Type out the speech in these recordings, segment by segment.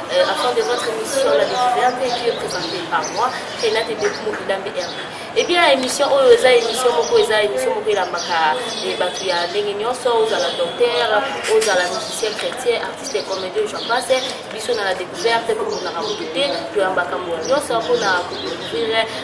Euh, à fin de votre émission la découverte qui est présentée par moi renate bekumu idambe herbe ebia eh émission oyo oh, eza émission moko eza émission moko elambaka eh, bato ya ndenge nyonso ozala docteur ozala musicien chrétien artiste et comédien jean passe biso na la découverte tomonaka moto te toyambaka moto nyonso mpona kocouvrir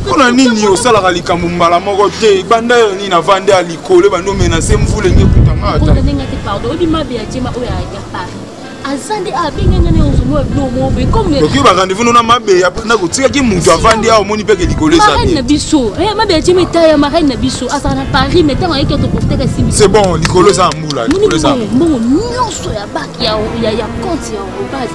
mpona ah. nini osalaka likambo mbala moko te banda yo nini avandi ya likolo ebandi omenase mvula enge kutangaoki barendez-vous nona mabeya na kotikaki moto avandi awa omoni mpeke likolo ezana biso eh, mabeya tie meta ya marine na biso azala na paris me ntango ayeki atoportaka simi c'est bon likolo eza mbula mbongo nyonso ya bak ya compte ya base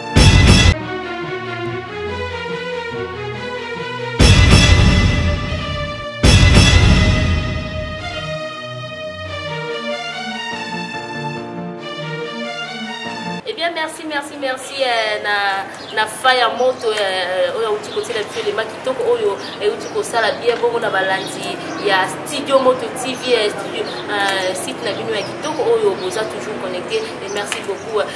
merci merci merci eh, na, na fa ya moto eh, oyo auti kotiela biso elema kitoko oyo euti eh, kosala bien bongo na balandi ya studio moto tv studio, uh, site na bino ya kitoko oyo boza toujours connecté et merci beaucoup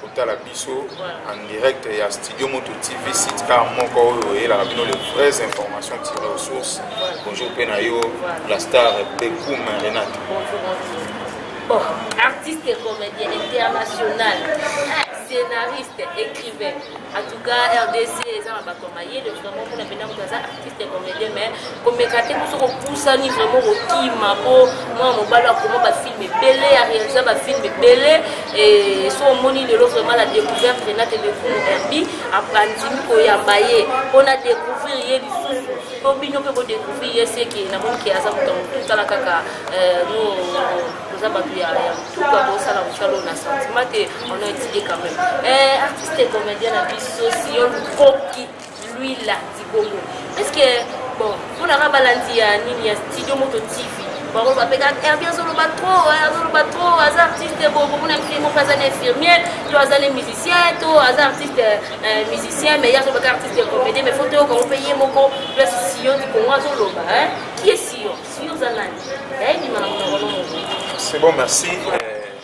kotala biso en direct ya studio moto tv site car moko oyo oyelaka bino les vraies informations tirées aux sources bonjour mpe na yo la star bekum renate bon artiste et comédien international scénariste écrivain en tout cas rdc eza na bato mayele vraiment mpona mpena moto aza artiste comédien mais komeka te biso kopusani vraiment kokima po mwana mobali akoma bafilme ebele ya réalisa bafilme ebele so omoni lelo vraiment la découverte renate lekumu herbi andimi koyamba ye mpo na découvrir ye lisusu mpo bino mpe bodécouvrir ye seke namoni ke aza moto ya motu tala kaka euh, no toza bato ya motuka bosala mosala oyo na sentiment te on a étudié quand même euh, artiste comédien na biso siyo lukoki Luila Dikongo. Est-ce que bon, pour la balandi ya nini ya studio moto TV. Bango ba peka Herbie azoloba trop, hein, azoloba trop, aza artiste bon, bon na mfimo kaza na infirmière, to aza le musicien, to aza artiste euh, musicien mais ya azoloba artiste comédien mais faut to ko pe ye moko plus Sion Dikongo azoloba hein. Qui est Sion? Sion za nani? Yayi bima na monoko no. C'est bon, merci. Euh,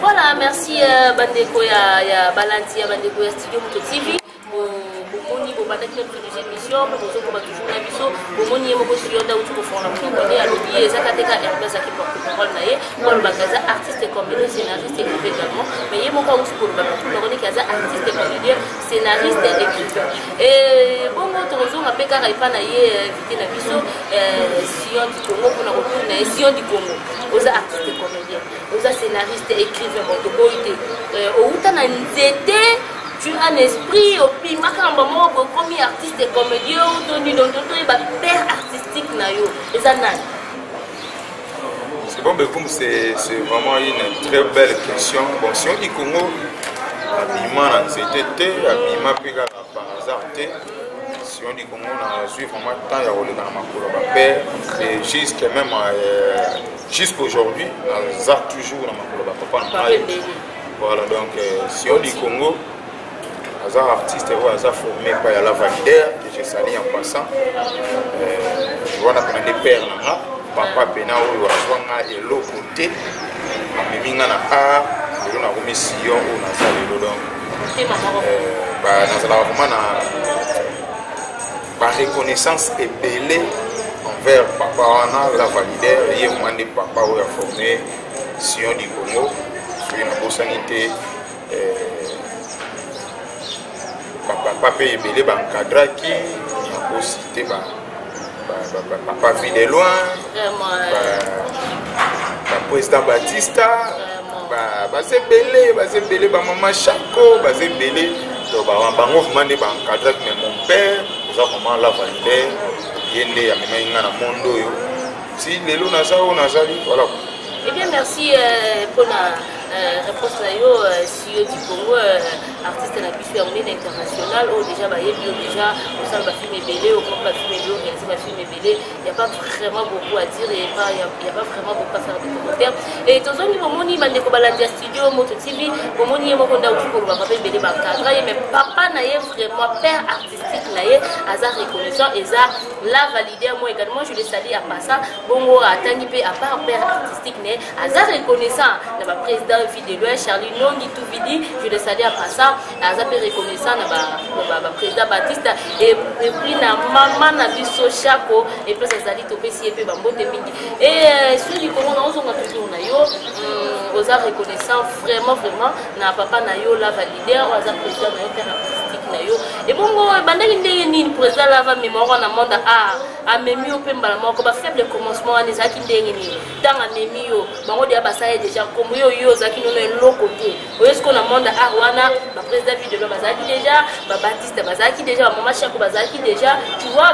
Voilà, merci euh, bandeko ya, ya balandi ya bandeko ya studio moto tv bomoni bobandaki na biso deuxième mission mpe bozokoba toujours na biso bomoni ye moko suyonda uti kofongola monoko nde alobi ye ezaka te ka hermes aki porte parole na ye mpo alobaka aza artiste comédien scénariste écrivain également mais ye moko auti koloba na tout longoneki aza artiste comédien scénariste écrivain bongo tokozonga mpe kaka epa na ye invité na biso sion kongo mpona kotuna ye sion di kongo oza artiste comédien oza scénariste écrivain bon toboyi te euh, owuta na nzete tu as l'esprit opimaka na bango bokomi artiste comédien to nino to toyeba père artistique na yo eza nani Bon, Bekoum, c'est vraiment une très belle question. Bon, si on dit Congo, habillement, c'était habillement, Par hasard te, Sion du Congo nazwi vraiment temps ya koleka na makolo bape et juste même euh, jusqu'aujourd'hui naza toujours na makolo bapapa na ngai voilà donc euh, Sion du Congo aza artiste oyo aza formé epai ya lavalidaire que je sali en passant euh, wana pena nde père na nga papa pena oyo azwa nga eloko te amemi nga na art lelo nakomi Sion oyo naza lelo donc euh, nazalaka vraiment na bareconnaissance ebele envers papa wana la valider ye mwa nde papa oyo aforme sion du congo soki nabosani te euh, bapapa mpe ebele bancadraki nakosi te ba Papa Vie de loin, président Batista, baza ebele baza ebele bamama shako baza ebele to bango vraiment nde baancadrak mais mon père oza vraiment la validere ye nde amemaki ngai na monde oyo ti lelo naza oyo nazali voilà Eh bien, merci euh, pour la euh, réponse. Là, yo du congo euh, artiste na biso ya monene international oyo oh, déjà bayebi yo déjà osala bafilme ebele okomi bafilme ebele organise bafilme ebele ya pas vraiment beaucoup à dire et pas ya pas vraiment beaucoup à faire des commentaires et tozongi bomoni bandeko balandi ya studio moto tv bomoni ye moko nde auti kolobaka mpe ebele bakadra ye mais papa na ye vraiment père artistique na ye aza reconnaissant eza la valide moi également je le sali à passa bongo atangi mpe à part père artistique na ye aza reconnaissant na ba président vie de loin charlie nongi tout vidi je le salue à passant aza mpe reconnaissant na ba, ba, ba président batista et, et puis na mama na biso shako et place azali topesi ye mpe bambote mingi et sur likolo na ozonga toujours na yo mm, oza reconnaissant vraiment vraiment na papa na yo lava leader aza président na yo mpe na artistique na yo ebongo ebandaki ndenge nini président lava mémoire na monde a amemi yo mpe mbala moko bafaible commencement wana ezalaki ndenge nini ntango amemi yo bango deya basala ye deja nkombo yo yo ozalaki nono eloko te oyo sikoyo na monde ya art wana baprésident ville de loi bazalaki deja babatiste bazalaki deja bamama shako bazalaki deja tu vois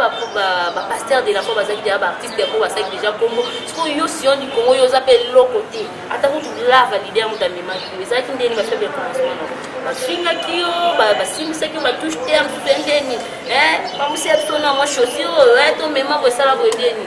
bapaster de la foi bazalaki deja baartiste yango basalaki deja nkombo sikoyo yo sion du congo yo oza mpe eloko te ata kutu lava lider moto amemaki yo ezalaki ndeni bafaible commencement bafingaki yo basimbisaki yo batouche te ya mosusu endeni bamosiyaki to na mwa chaussure tomema kosala boye ndeni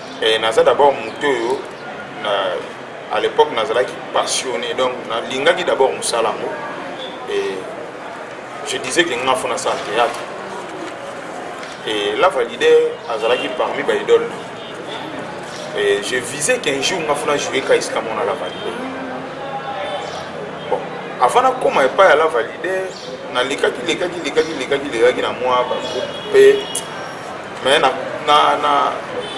eh, naza d'abord moto oyo na, à l'époque nazalaki passionné donc nalingaki d'abord mosala yango et je disais que nga fo nasala théâtre et la valide azalaki parmi baidole et je visais qu'un jour nga fo na jouer ka esika mona la valide bon avant nakoma epai ya la valide nalikaki lekaki lekaki lekaki lekaki na mwa bagroupe mpe mais na, na, na,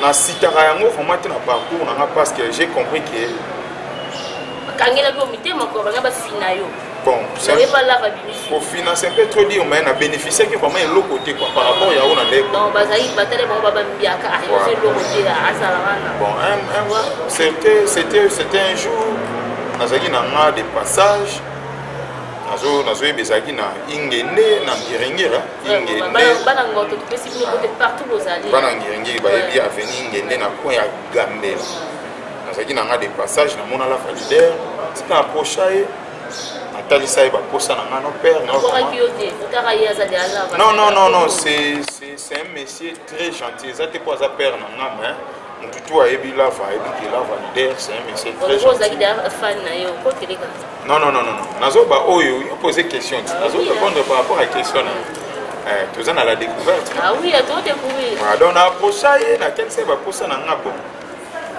na sitaka yango vraiment te na parcours nanga parce que j'ai compris que bakangelaki yo mitema ko banga bafina yo bon kofina c'est un peu trop dire mais na bénéficiaki vraiment eloko te quoi par rapport ya oyo na ndeko non bazali batale bango babambiaka ayoza ah, eloko te ah, azala wana bon c'était c'était c'était un jour nazalaki na nga de passage nazoyeba ezalaki na ingende na ngiringiri ingendebana ngiringiri bayebi aveni ingende na coin ya gambela nazalaki na nga de passage namona la valider tika aprocha ye natalisa ye baposa na nga no père non non non non c'est un monsieur très gentil eza te mpo aza père na nga mais mutu tu ayebi lava ayebi ke lava leader c'est un monsieur très gentil ozaki d'ailleurs fan na yo ko teleka non non non non nazo ba oyo yo poser question ti nazo répondre par rapport à question na eh toza na la découverte ah oui ato découvrir ah donc na posa ye na ken se ba posa na nga bon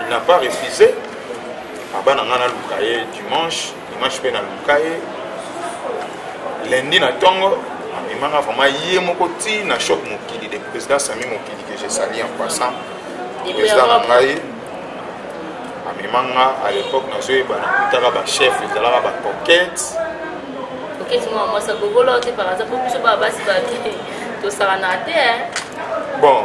il n'a pas refusé abana nga na luka ye dimanche dimanche mpe naluka ye lundi na ntongo amemaka vraiment ye moko ti na choc mokili de président sami mokili que je sali en passant président na ngai amema nga à l'époque nazoyeba nakutaka bachef ezalaka bacoquete bon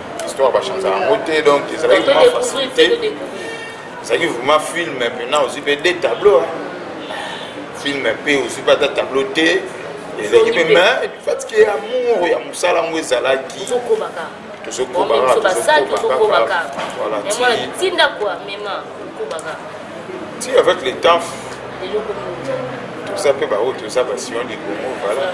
histoire bachanza yango te donc ezalaki vraiment facilité ezalaki vraiment film mpena ozwi mpe de tableau film mpe ozwi mpe ata tableau te ezalaki mpe ma fatike ya amour ya mosala yango ezalaki ti avec le temps toza mpe baoyo toza basiyon likongo voilà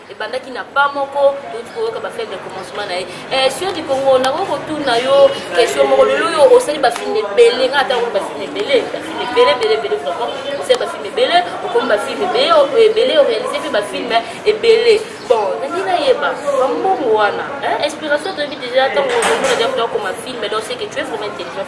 ebandaki na pa moko touti koyoka bafilme ya commencement na ye eh, sur du congo nakoki kotuna yo question moko lelo oyo osali bafilme ebele ngai ata okoli bafilme ebele bafilme ebele ebele ebele vraiment osali bafilme ebele okomi bafilme ebele orealise mpe bafilme ebele bon nalingi nayeba bambongo wana inspiration toyebi deja ntango omona deja kuta okoma filme donc seke tu es vraiment intelligent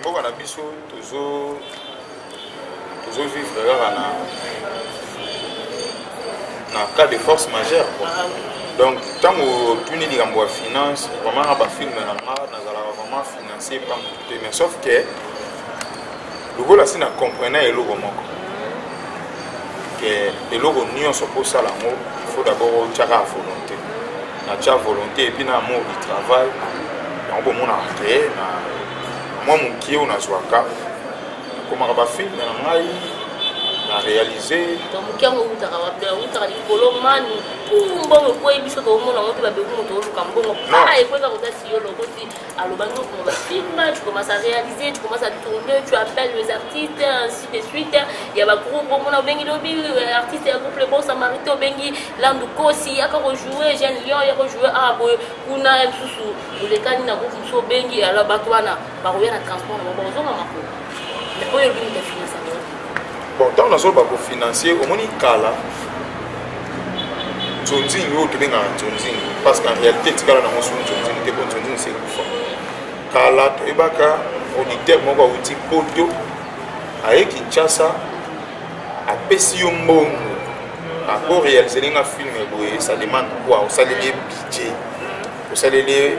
mboka na biso tozo tozo vivre kaka na na cas de force majeure quoi ah, donc ntango otuni likambo ya finance vraiment na bafilme na nga nazalaka vraiment financier pa motu te mais sauf que lokola si na comprena eloko moko ke eloko nyonso mpo osala yango il faut d'abord otyaka volonté na tia volonté epuis na amour du travail yango bomona créé na mwa mokie oyo nazwaka nakomaka bafilme na ngai na réalise moke yango eutaka wapi eutaka likolo mani mbongo ekwei biso toomona yango te babeku moto oluka mbongo ekweka kota siyolo okoti alobaki yo komona film tu commence à réaliser tu commence à tourner tu appelles les artistes ainsi de suite ya bagroupe omona obengi lobi artiste ya groupe le bon samarité obengi landu kosi yaka kojoue jeune lion ya kojoue awa boye kuna ya lisusu olekani na groupe mosusu obengi alors bato wana bakoya na transport na bango bakozonga makolo oyo bino de finance bon ntango nazoloba kofinancie omoni kala nzonzing oyo tobengaka nzonzing parce qu'en réalité etikala nango so nzonzing te po nzonzing se kufa kala toyebaka auditeur moko awuti poto aye kinshasa apesi yo mbongo ako réalise ndenge ya filme boye ça demande quoi osaleli ye budget osaleli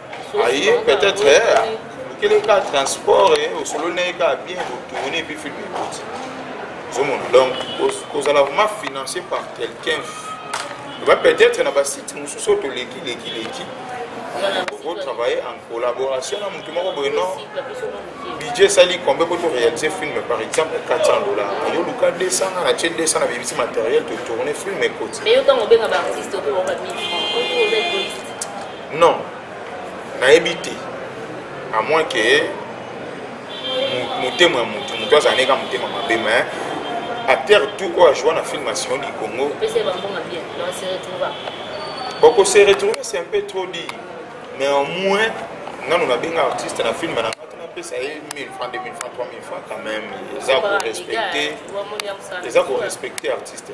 aye peut-être okeli eh, ka transport eh, osololi na ye kaka bien otourne epuis film ekoti ozomona donc kozala vraiment financé par quelqu'un va peut-être na basite mosusu oyo toleki leki leki okotravaille en collaboration na motu moko boye non budget esali combien po toréalise film par exemple 400 dollar yo luka 200 nga na tie 200 na bebisi matériel totourne film ekoti non nayebi te à moins que motema ya motu motu azala neka motema mabe mais acteur tout oyo ajoua na film asion du congo boko se retrouve c'est un peu trop dit mais au moins nanu nabenga artiste na film na ngati napesa ye 1000 francs 2000 francs 3000 francs quand même eza korespecte eza korespecte artiste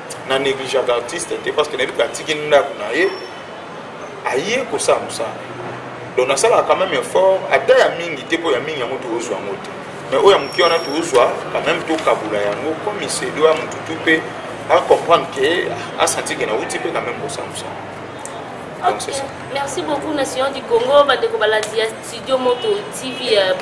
na negligaka artiste te parce que nayebi ke atiki ndako na ye aye kosala mosala donc nasalaka quand même effort ata ya mingi te mpo ya mingi yango tozwa yango te mais oyo ya moke wana tozwa quand même tokabula yango comme isedo ya motu tu mpe acomprendre ke asentir ke nauti mpe quand même kosala mosala donc c'est ça merci beaucoup nation du congo bandeko balandi ya studio moto tv euh,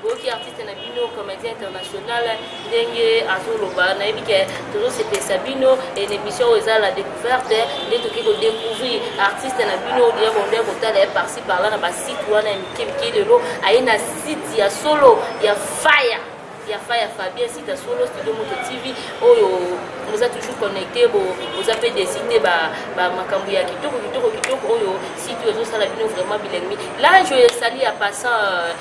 boyoki artiste na bino comédien international ndenge azoloba nayebi ke tozosepelisa bino na émission oyo eza la découverte nde toki kodécouvrir artiste na bino deya bonde kotala ye parci parla na basite wana ya mike mike lelo aye na site ya solo ya fire ya fa ya fabien sita solo studio moto tv oyo boza toujours connecté boza mpe deside makambo ya kitoko kitoko kitoko oyo site oyo ezosala bino vraiment bilengmi lange oyo esali ya passant euh,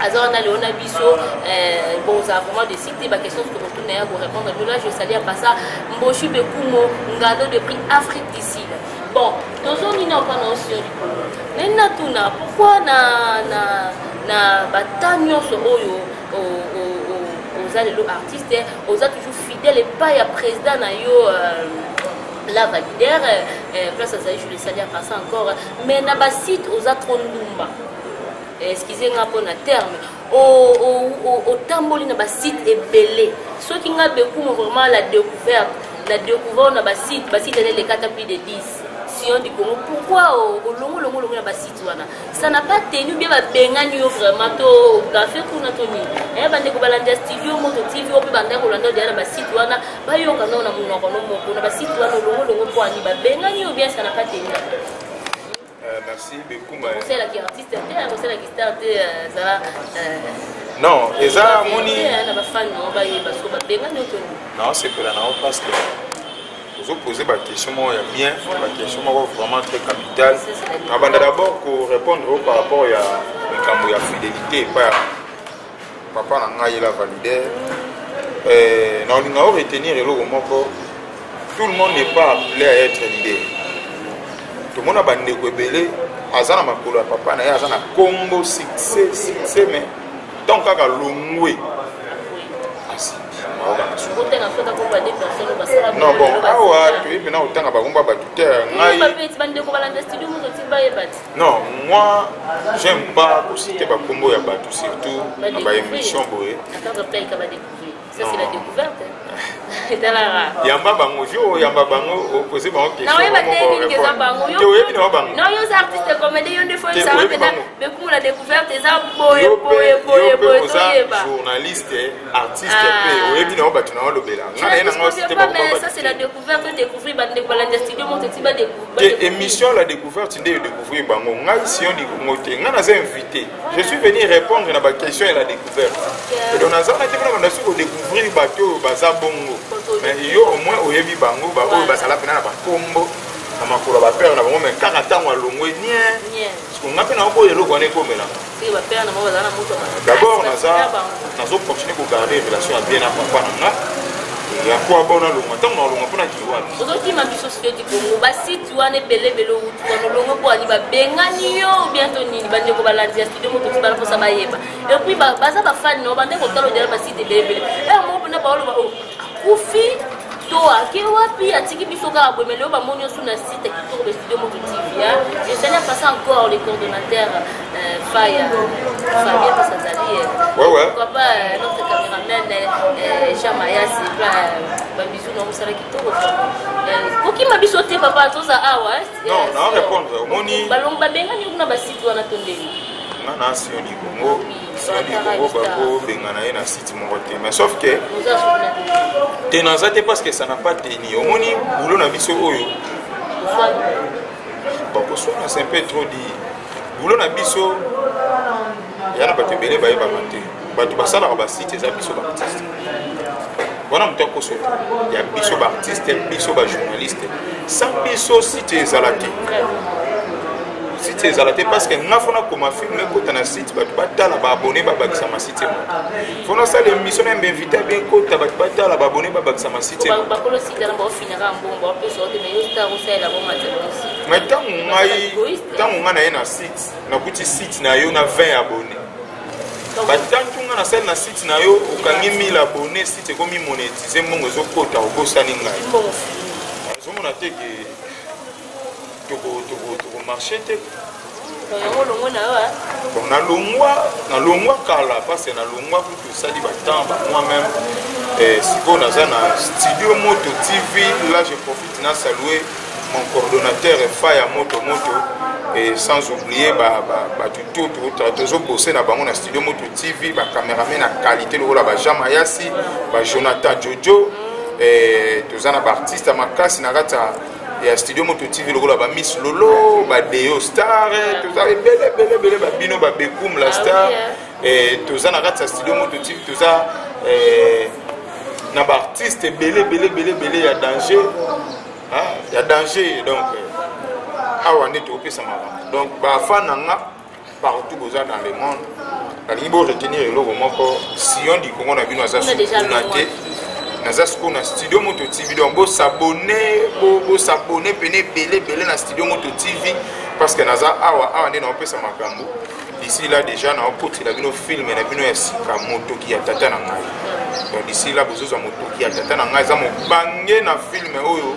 aza wana lelo na biso eh, bon ozala vraiment de cité baquestion tokotuna ya korépondre bino là je sali apa ça mboshu bekumo ngado de prix afrique du sud bon tozongi na mpana osio likolo nani natuna pourkui na, na, na bata nyonso oyo oza lelo artiste oza toujours fidèle epai ya président na yo euh, la validere euh, place azali jule sali apasa encore mais na basite oza trop ndumba excuse nga mpo na terme otamboli na basite ebele soki nga bekumo vraiment la découverte la découverte na basite basite ene elekata plus de 10 sion du congo pourquoi olongolongolongo na basite wana ça n'a pas tenu bien babengani yo vraiment to gafe kuna to nini eh, bandeko balanda studio moto tv oyo mpe bandaki kolanda odeya na basite wana bayoka nao na monoko no moko na basite wana olongolongo mpo ani babengani yo bien ça n'a pas tenu non eza moni naosepela nao parce que ozopose baquestion moko ya bien baquestion moko vraiment très capital nabanda d'abord korépondre o par rapport ya likambo ya fidélité epa papa na ngai la valider euh, na olinga o retenir eloko moko tout le monde n'est pas appelé à être leader tomona bandeko ebele aza na makolo ya papa na ye aza na kombo succès succès mais ntango kaka longwe non bon awa toyebi na kotanga bakombo ya bato te ngai non moi j'aime pas kosite bakombo ya bato surtout na baémission boye yamba bango yo oyamba bango opose bango questionoyebi na yo bangoyoza journaliste artiste mpe oyebi na yo bato na yo olobela ngai na ye na ngai osite bakombo émission la découverte nde découvrir bango ngai sion likongo te ngai naza invité je suis venu répondre na baquestion ya la découverte donc naza naki mpona banda soki kodécouvrir bato oyo baza bongo mais yo au moins oyebi bango baoyo bazala mpena na bakombo na makolo ya bapere na bango mai kaka ntango alongwe nie siko ngai mpe naoboya eloko wana ekomelanga D'abord, nazo continuer ko garder relation ya bien na papa na nga. Ya kwa bona longa tango na longa pona kiwa. Ozo kima biso sio di Congo. Ba site wana ebele ebele utu wana longa kwa ni ba bengani yo bientôt nini ba ndeko balandi ya studio moto tibala posa bayeba. Et puis ba baza ba fan no ba ndeko talo dela ba site ebele ebele. Eh mo pona ba oloba oh akufi to ake wapi atiki biso kaka boye meleo bamoni osu na site kitoko ba studio moto tv ya je sali en passant encore le coordonnateur euh, faya fabien parce azali pourquoi pas euh, notre cameraman euh, jean mayas epla babisu na mosala kitoko kokima biso te papa toza awa balongo babengani kuna basite wana tondeli nga na asio libongo likongo bakobengana ye na site moko te mais sauf que te naza te parce que ça n'a pas teni omoni boulot na biso oyo bakoswana c'est un peu trop dire boulot na biso ya na bato ebele bayebaka te bato basalaka basite eza biso baartiste wana moto akosota ya biso baartiste biso bajournaliste sans biso site ezala te site ezala te parce que nga fo nakoma film ekota na site bato batala baabone babakisa ma site moko fo nasala émission na bainvité abe ekota bato batala baabone babakisa ma site mais ntango ngai ntango ngai naye na site nakuti site na yo na 20 abone batantu ngai nasali na site na yo okangi 1000 abone site ekomi monetize mbongo ezokota obosani ngai ozomona te ke toko toko toko marché te bon nalongwa nalongwa kala parce nalongwa kutu osali batemps bamoi meme eh, sikoyo naza na studio moto tv là je profite na salue mon coordonnateur efa ya moto moto et sans oublier bato to tozobose na bango na studio moto tv bacameraman na qualité lokola bajean mayasi bajonathan jojo toza na baartiste ya makasi na kati ya ya studio moto tv lokola ba miss lolo ba deo star eh, toza ebele ebele ebele ba bino ba bekum la ah star eh, toza na kati ya studio moto tv toza eh, na ba artiste ebele ebele ebele ebele ya danger ya danger donc awa nde tokopesa makambo donc bafan na nga partout boza dans le monde nalingi bo retenir eloko moko sion du congo na bino aza sukuna te naza sikoyo na studio moto tv donc bosabone bosabone pene ebele ebele na studio moto tv parce que naza awa awa nde naopesa makambo d'ici là déjà naokotela bino filme na bino ya sika motoki ya tata na ngai donc d'ici là bozozwa motoki ya tata na ngai eza mobange na filme oyo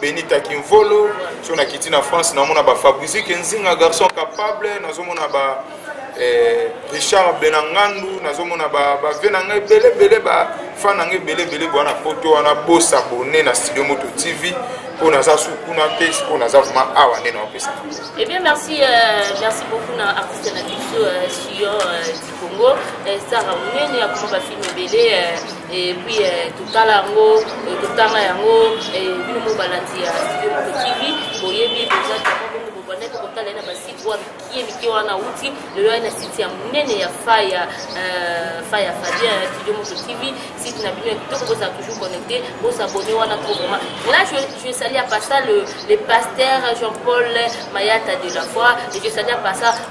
benita kimvolo so nakiti na france namona ba fabrizi kenzinga garçon capable nazomona ba eh, richard benangandu nazomona bave na ngai ebele ebele bafan na ngai ebele ebele boya na poto wana bosabone na studio moto tv mpo naza su kuna te mpo naza vraimen awa nde naopesa ebien eh merci euh, merci beaucoup na artiste na biso euh, sur euh, congo eh, sara monene akoma bafilme ebele eh, eh, puis totala yango totanga yango bino mo balandi ya studio moko tv boyebi boza bongo bobandaki kotala ye na basite oyo mikie mikie wana wuti lelo aye na site ya monene ya faya faya fabien ya studio moko tv site na bino ya kitoko bozala toujours connecté bosabone wana trop vraiment là je, je sali à part ça le, le pasteur jean paul mayata de la foi et je sali à part ça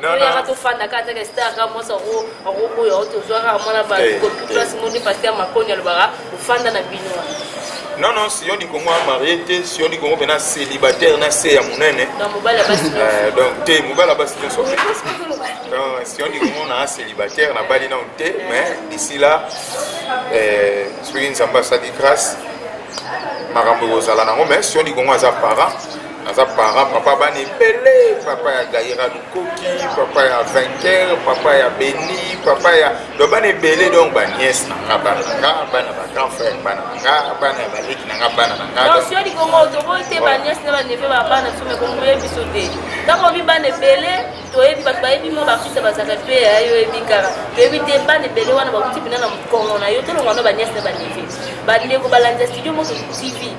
toyaka tofanda kaka taka star kaka mwasi akoboya o tozwa kaka mwana bakoplasi eh, eh. moni paster makoni alobaka ofanda na bino non non siyo likongo amarie te siyo likongo mpe na célibataire na se ya monene eh, donc te mobali ya basi nyonso siyo likongo na célibataire nabali nano te mais d'ici là soki nzambe asali grâce makambo ekozala nango mais siyo likongo aza parent naza parent papa bana ebele papa ya gaira lukoki papa ya vainqueur papa ya beni papa ya donc bana ebele donc baniese na nga bana na nga bana ba grand frère bana na nga bana ya baleki na nga bana na ngatoboyete baniese na baneve ba bana biso mekongo ye biso te ntango obi bana ebele toyebi bato bayebi mo bakristo bazaka mpe yayo oyebi kaka toyebi te bana ebele wana bakuti mpena na mokongo na yo tolongwa no baniese na baneve bandeko balandi ya studio moto tv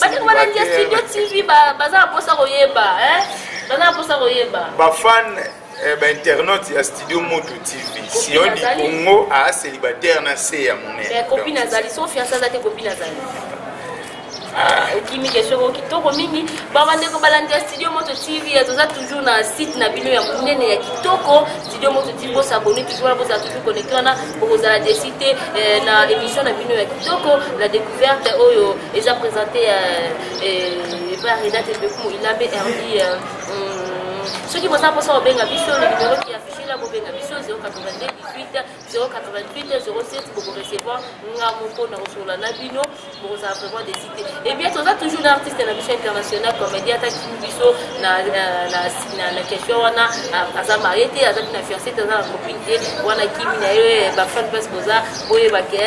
Batu wana ndia studio TV baza na posa koyeba hein baza na posa koyeba ba fan eh, ba internaute ya studio moto TV sioni Congo a célibataire na se ya monene mais copine azali so fiancé azali copine azali ah. okimi question ko kitoko mingi babandeko balandi ya studio moto tv eh, toza toujours na site na bino ya monene ya kitoko studio moto tv bosabone toujours wana bozala toujours connecte wana bokozala desi te eh, na émission na bino ya kitoko la découverte oyo Eza presente ya epa ya Renate Bekumu Ilambe Herbi soki boza mposa kobenga biso na numero ki affiche na bobenga biso 082 18 088 07 bokorecevoir nga moko na kosolola na bino bokozala vraiment desite ebien toza toujours na artiste na biso international comédien ataki biso na question wana aza marie te aza na fiancé te aza na copine te wana kimi na ye bafan place boza boyebake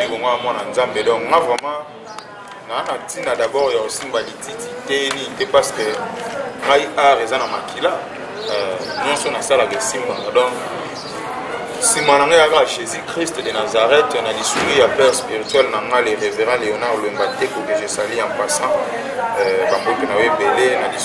libongo mwana nzambe donc nga vraiment naa na ntina d'abord ya kosimba lititi te nini te parce que ngai art eza na makila euh, nyonso nasalaka esimbaka donc nsima na ngai yaka jésus christ de nazareth na lisuli ya père spirituel na ngai le révérend léonard lwemba teko que je sali en passant euh, bamboki na yo ebele na lisuli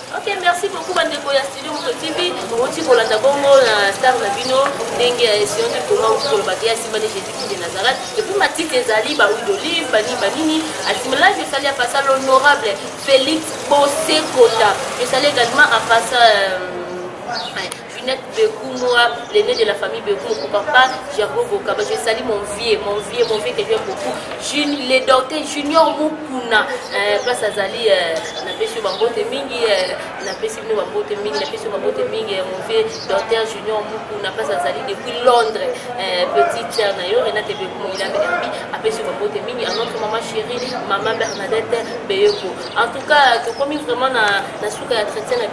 Ok, merci beaucoup bandeko ya studio moto tv outi kolanda bongo na star na bino ndenge ya esionde koma outi koloba te asimbani jésus kinde nazareth epuis matite ezali bahuile d'olive banini banini asimilage esali ya pasa l'honorable félix bosekota esali également apasa euh, Junette Bekumwa, l'aîné de la famille Bekumwa, pour papa Gerbo Bokaba. Je salue mon vieux, mon vieux, mon vieux que j'aime beaucoup. Jun, le docteur Junior Mukuna, euh, place Azali, euh, na pesi bambote mingi, euh, na pesi bino bambote mingi, na pesi bambote mingi, euh, mon vieux docteur Junior Mukuna, place Azali depuis Londres, euh, petite sœur na yo, Renate Bekumwa, il a permis, a pesi bambote mingi, à notre maman chérie, maman Bernadette Beyoko. En tout cas, tokomi vraiment na, na suka ya chrétien na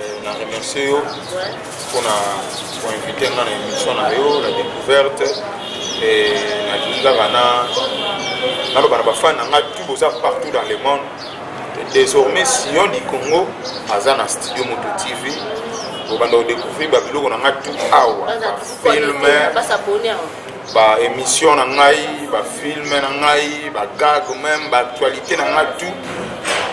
Euh, na remercie yo mpona koinvite nga na émission na yo la découverte nalingi kaka naloba na bafani na ngai tu boza partout dans le monde désormais sion du congo aza na studio moto tv obanda kodecouvrir babiloko na ngai tu awa bafilme baémission na ngai bafilme na ngai bagag meme baactualité na ngai tu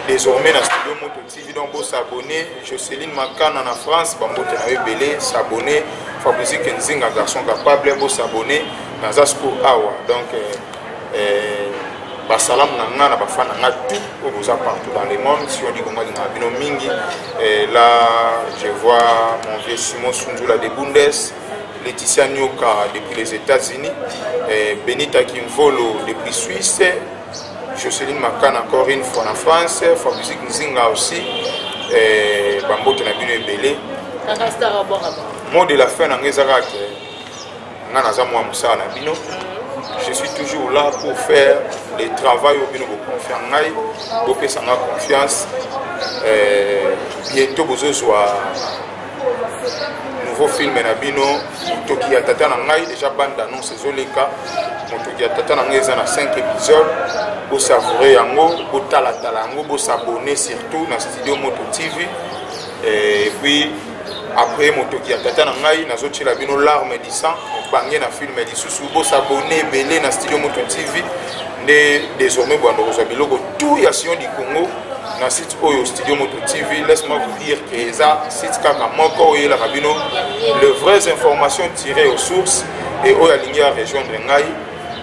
désormais na studio moto donc bo s'abonner Joceline Makana na France ba mbote na ebele s'abonner Fabrice Kenzinga garçon capable bo s'abonner naza siko awa donc euh, euh, basalamu na nga na bafa na nga tout oyo boza partout dans le monde si on dit kongo alingaka bino mingi et là je vois mon vieux Simon Sundula de Bundes Laetitia Nyoka depuis les États-Unis Benita Kimvolo depuis Suisse Jocelyn Makana encore une fois na France, for musique Nzinga aussi, eh, bambote na bino ebele. Mot de la fin na ngai ezaka ke nga naza mwa mosala na bino. Je suis toujours là pour faire le travail oyo bino bokonfia ngai, bopesa nga confiance. Eh, bientôt bozozwa nouveau film na bino motoki ya tata na ngai déjà bande annonce ezoleka motoki ya tata na ngai eza na 5 épisode bosavoure yango botalatala yango bosabone surtout na studio moto tv eh, et puis après motoki ya tata na ngai nazotyela bino larme du sang mobange na filme lisusu bosabone ebele na studio moto tv nde désormais bwanda kozwa biloko tout ya sion du congo na oyo studio moto tv laisse moi vous dire que eza site kaka moko oyo eyelaka bino le vraies informations tirées aux sources et oyo alingi ya rejoindre ngai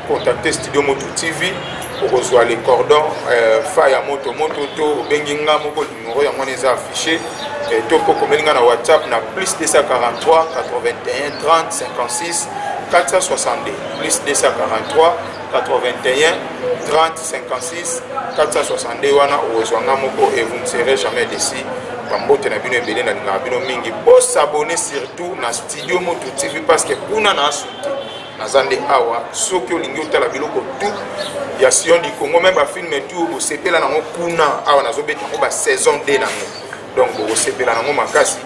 contacte studio moto tv okozwa le cordon euh, fa ya moto moto to obengi nga moko numero yango wana eza affiché euh, to mpo okomeli nga na whatsapp na plus 243 81 30 56 462 plus 243 81 30 56 462 wana okozwa nga moko et vous ne serez jamais déçu bambote na bino ebele nalingaka bino mingi bosabone surtout na studio motu tv parce que kuna na asuki naza nde awa soki olingi otala biloko tu ya sion du congo me bafilme tu osepela nango kuna awa nazobeta yango basaison 2 nango donc bokosepela nango makasi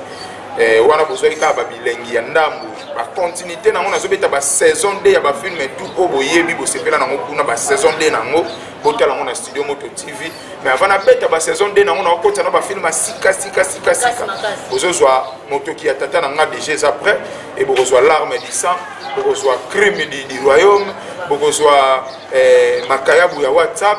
eh, wana bozwaki kaka babilengi ya ndambo bacontinuité nango nazobeta basaison 2 ya bafilme tout oyo boyebi bosepela nango kuna basaison 2 nango botala yango na studio moto tv mais avant nabeta basaison 2 nango nakokotisa na bafilme ya sika sika sika sika bozozwa motoki ya tata na nga deja eza près e bokozwa larme du sang bokozwa crime du royaume bokozwa eh, makayabu ya whatsapp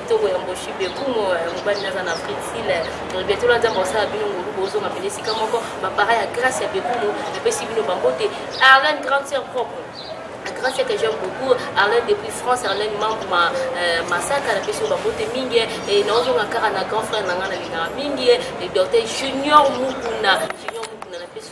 kitoko ya mboshi bekumo eh, mobali naza na fritile eh, betola nzambe osala bino ngolu bozonga pene esika moko bapara ya grâce ya bekumo napesi bino bambote arlene grande sœur propre grâce que j'aime beaucoup arlène depuis france arlène membre ma euh, masaka na pesi babote mingi e naozonga kaka na grand frère na ngai nalingaka mingi e docteur junior mukuna junior mukuna na pesi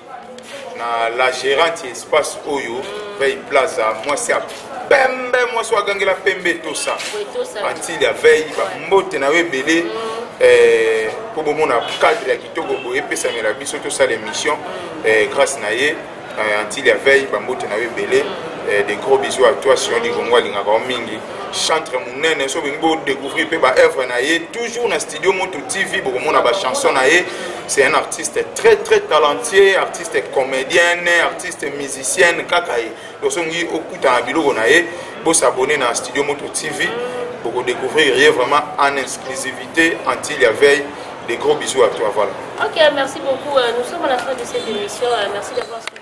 na la gerante ya espace oyo veille plaza mwasi ya pembe mwasi oyo agangela pembe etosa antile ya veille bambote na yo ebele mpo eh, bomona cadre ya kitoko boye epesamela biso tosala émission eh, grâce na ye eh, antile ya veille bambote na yo ebele des gros bisous à toi sion ligongo alingaka yo mingi chantre monene so olingi bodecouvrir mpe baœuvre na ye toujours na studio moto tv bokomona bachanson na ye c'est un artiste très très talentueux artiste comédienne artiste musicienne kaka ye donc so olingi okutana biloko na ye bosabone na studio moto tv bokodecouvrir ye vraiment en exclusivité antil ya veille des gros bisous à toi voilà ok merci beaucoup euh, nous sommes à la fin de cette émission euh, merci d'avoir suivi